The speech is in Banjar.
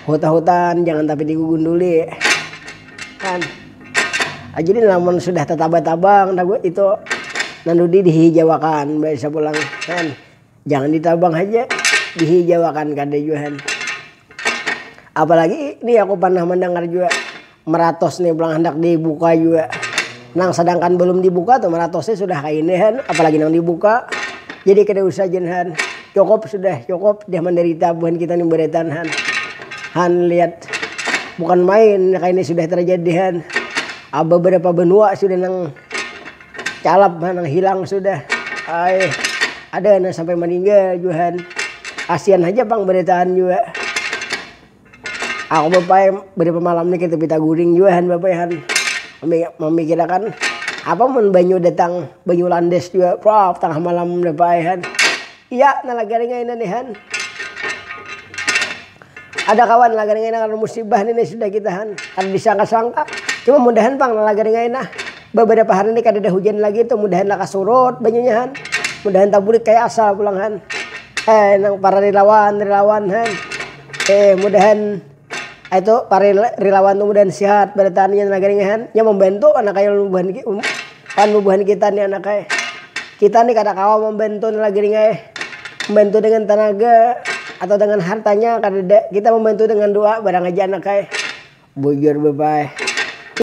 Huta-hutan jangan tapi digugunduli. Kan. Ah, jadi namun sudah tetabah-tabang itu nandudi dihijawakan bisa pulang kan. Jangan ditabang haja dihijawakan kada jua kan. Apalagi ini aku pernah mendengar jua Meratos nih pulang handak dibuka jua. Nang sadangkan balum dibuka tuh meratosnya sudah kaini han, apalagi nang dibuka. Jadi kada usah jen han. Cukup sudah, cukup sudah mandarita buhan kita nih baretan han. Han lihat, bukan main kaini sudah terjadi han. Aba berapa benua sudah nang calap han, nang hilang sudah. Ai, ada nang sampai maninggal jua han. Kasian haja pang baretaan jua. Aku bapai bariapa malam ni kita pita guring jua han bapai han mamikirakan apa mun banyu datang banyu landes jua prap tangah malam bapai han iya na lagari ngaina ni han ada kawan lagari ngaina karna musibah ni nang sudah kita han kada disangka-sangka cuma mudahan pang na lagari ngaina babariapa hari ni kadada hujan lagi tu mudahan lakas surut banyunya han mudahan tabulik kaya asal pulang han nang para rilawan-rilawan han. Eh mudahan itu para rilawan tu mudahan sihat barataan inya nagari ngahan nya mambantu anak ai ulun bubuhan wan bubuhan kita ni anak ai kita ni kada kawa mambantu nang lagi ringa eh mambantu dengan tanaga atau dengan hartanya kadada kita mambantu dengan doa barang aja anak ai bujur bapak ai.